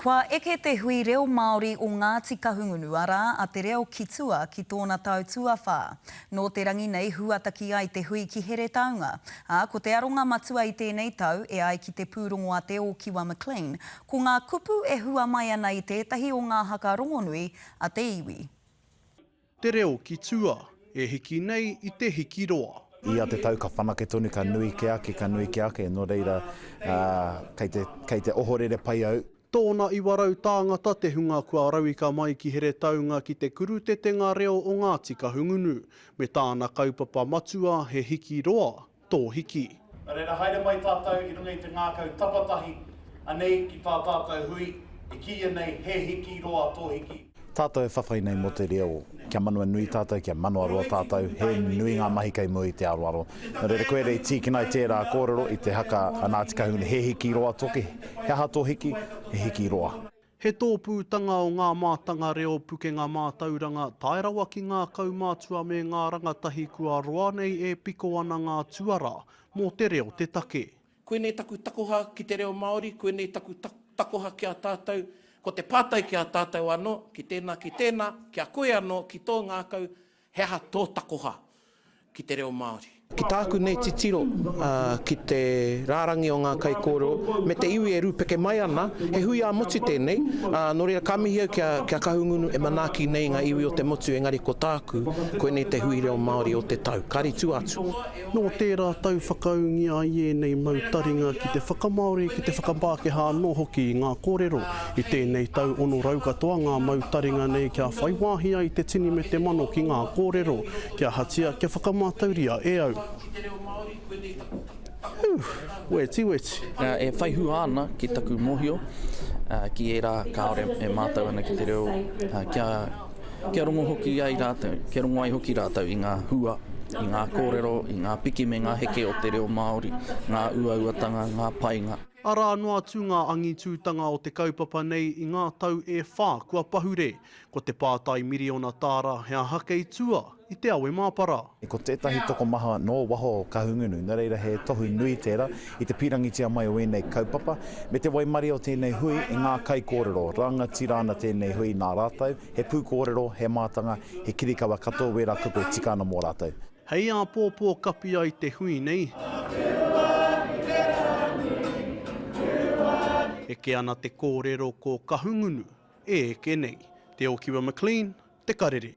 Kua eke te hui reo Māori o Ngāti Kahungunu, arā, a Te Reo ki tua ki tōna tau tuawhā. Nō te rangi nei huataki ai te hui ki Heretaunga, ā, ko te aronga matua i tēnei tau, e ai ki te pūrongo a Te Ōkiwa McLean, ko ngā kupu e hua mai ana i tētahi o ngā haka rongonui a te iwi. Te reo ki tua, e hiki nei i te hiki roa. Ia te tau ka whanake tonu, ka nui ke ake, ka nui ke ake, nō reira, kei te, kei te ohorere pai au. Tōna iwa rau tāngata te hunga kua rauika mai ki Heretaunga ki te kurutetenga reo o Ngāti Kahungunu, me tāna kaupapa matua he hiki roa, tō hiki. Nō reira, haere mai tātou i runga i te ngākau tapatahi, anei ki tā tātou hui, e kīia nei He Hiki Roa Tō Hiki. Tātou e whawhai nei mō te reo, kia manawa nui tātou, kia manawa roa tātou, he nui ngā mahi kei mua i te aroaro. Nō reira, koia rā i tīkina ai tērā kōrero i te haka a Ngāti Kahungunu, He Hiki Roa Tō Hiki, he aha tō hiki? He hiki roa. He tōpūtanga o ngā mātanga reo pukenga mātauranga tae rawa ki ngā kaumātua me ngā rangatahi kua roa nei e piko ana ngā tuarā mō te reo te take. Koinei taku takoha ki te reo Māori, koinei taku takoha ki a tātou, ko te pātai ki a tātou anō, ki tēnā, ki tēnā, ki a koe anō, ki tō ngākau, He aha tō takoha ki te reo Māori? Ki tāku nei titiro, ki te rārangi o ngā kaikōrero me te iwi e rūpeke mai ana, he hui ā-motu tēnei, ā, nō reira ka mihi au ki a, ki a Kahungunu e manaaki nei ngā iwi o te motu engari ko tāku, koinei te hui reo Māori o te tau. Kāre i tua atu. Nō tērā tau whakaūngia ai ēnei mau taringa ki te whakamāori, ki te whakapākehā anō hoki i ngā kōrero. I tēnei tau ono rau katoa ngā mau taringa nei kia whai wāhi ai te tini me te mano ki ngā kōrero. Ki ahatia kia whakamatauria e au? Whew! Wetiweti! E whai hua ana ki taku mōhio ki ērā kāore e mātau ana ki te reo kia. Kia rongo hoki ai rātou, kia rongo ai hoki rātou i ngā hua, i ngā kōrero, i ngā piki me ngā heke o te reo Māori, ngā uauatanga, ngā painga. Arā noa atu ngā angitūtanga o te kaupapa nei i ngā tau e whā kua pahure. Ko te pātai miriona tāra, he aha kei tua? i te awe māpara. Ko tētahi tokomaha nō waho o Kahungunu, nō reira he tohu nui tērā i te pīrangitia mai o ēnei kaupapa, me te waimarie o tēnei hui i ngā kaikōrero, rangatira ana tēnei hui nā rātou, he pūkōrero, he mātanga, he kirikawa katoa wērā kupe tika ana mō rātou. Hei āpōpō kapi ai te hui nei, eke ana te kōrero ko Kahungunu e eke nei. Te Ōkiwa McLean, Te Karere.